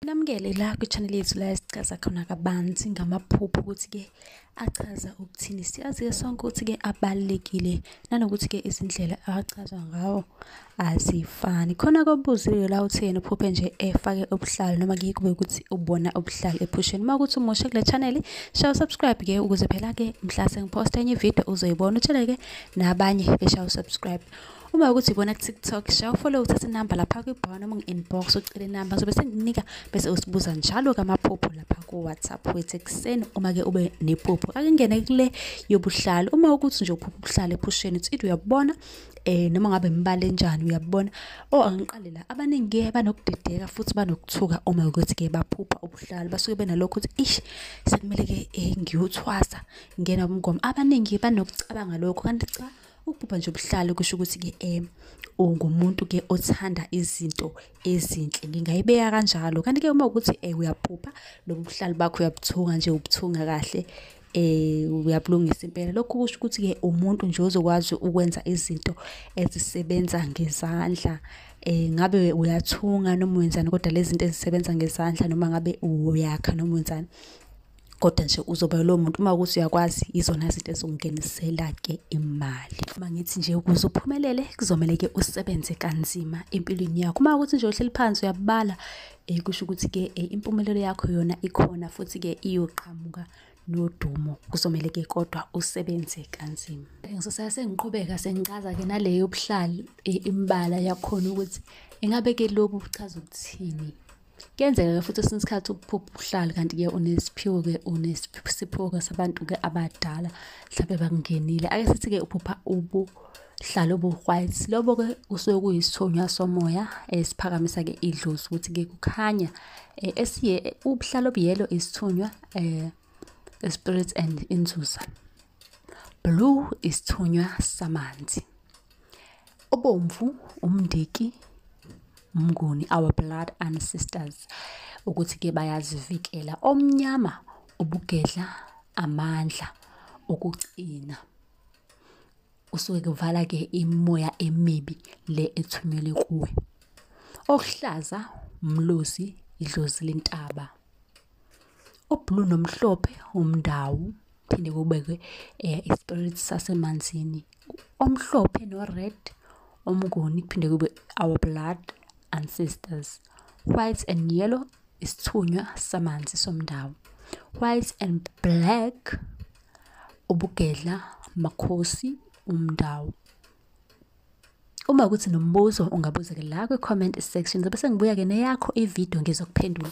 Namukele la kwi-channel yethu la esichaza khona kabanzi ngamaphupho ukuthi-ke achaza ukuthini. Siyazi-ke sonke ukuthi-ke abalulekile nanokuthi-ke izindlela achazwa ngawo azifani. Khona kobuziwe la uthi yena uphuphe nje efake ubuhlalu noma kuye kube ukuthi ubona ubuhlalu ephusheni. Uma ukuthi umusha kule channel shaya usubscribe-ke ukuze phela-ke mhla sengiphosta enye ividiyo uzoyibona utsheleke nabanye beshaye usubscribe. uma ukuthi ibona tiktok sha ufollow uthathe inamba lapha kwibhawa noma ngi-inbox ucele inamba sobe sengikunika bese usibuza njalo kamaphupho lapha ku-whatsapp wethu ekuseni uma-ke ube nephupho ake ngene kule yobuhlalo uma ukuthi nje uphupha ubuhlalo ephusheni uthi ithi uyabubona eh noma ngabe imibala enjani uyabona o oh, angiqale la abaningi ke banokudideka futhi banokuthuka uma ukuthi ke baphupha ubuhlalo basuke benalokho ukuthi ish sekumele ke eh, ngiyuthwasa ngena umgomo abaningi banokucabanga lokho kanti cha Ukubhubha nje ubuhlalo kusho ukuthi ke em ungumuntu ke othanda izinto ezinhle ngingayibeka kanjalo kanti ke uma ukuthi eh uyabhubha lobu buhlalo bakho uyabuthunga nje ubuthunga kahle eh uyabulungisa impela lokho kusho ukuthi ke umuntu nje ozokwazi ukwenza izinto ezisebenza ngezandla eh ngabe uyathunga noma wenzani kodwa lezi zinto ezisebenza ngezandla noma ngabe uyakha noma wenzani kodwa nje uzoba lo muntu uma ukuthi uyakwazi izona zinto ezongenisela-ke imali uma ngithi nje ukuze uphumelele kuzomele ke usebenze kanzima empilweni yakho uma ukuthi nje uhleli phansi uyabala um kusho ukuthi-ke um impumelelo yakho yona ikhona futhi-ke iyoqhamuka nodumo kuzomele ke kodwa usebenze kanzima ngisosaya sengiqhubeka sengichaza ke nale yobuhlali imbala yakhona ukuthi ingabe ke lobu buchaza ukuthini kuyenzeka-ke futhi esinye isikhathi ukuphupha uhlali kanti-ke unesiphiwo-ke unesiphiwo-ke sabantu-ke abadala mhlawumbe bakungenile ake sithi-ke uphupha ubu hlala obuhwayisi lobo-ke kusuke kuyisithunywa somoya esiphakamisa-ke eh, idlozi ukuthi-ke kukhanya um esiye ubuhlala obuyelo isithunywa um eh, spirits and inzuza blue isithunywa samanzi obomvu umndiki umnguni our blood ancestors ukuthi ke bayazivikela omnyama ubugedla amandla okucina usuke kuvala ke imoya emibi le ethunyelwe kuwe okuhlaza umlozi idlozi lentaba ublue nomhlophe umndawu phinde kubekwe eh, ispirit sasemanzini omhlophe no-red omnguni kuphinde kube our blood ancestors white and yellow isithunywa samanzi somndawo white and black ubugedla makhosi umndawo uma ukuthi nombuzo ungabuza ke la kwi-comment section zobe sengibuya-ke neyakho ividiyo ngizokuphendula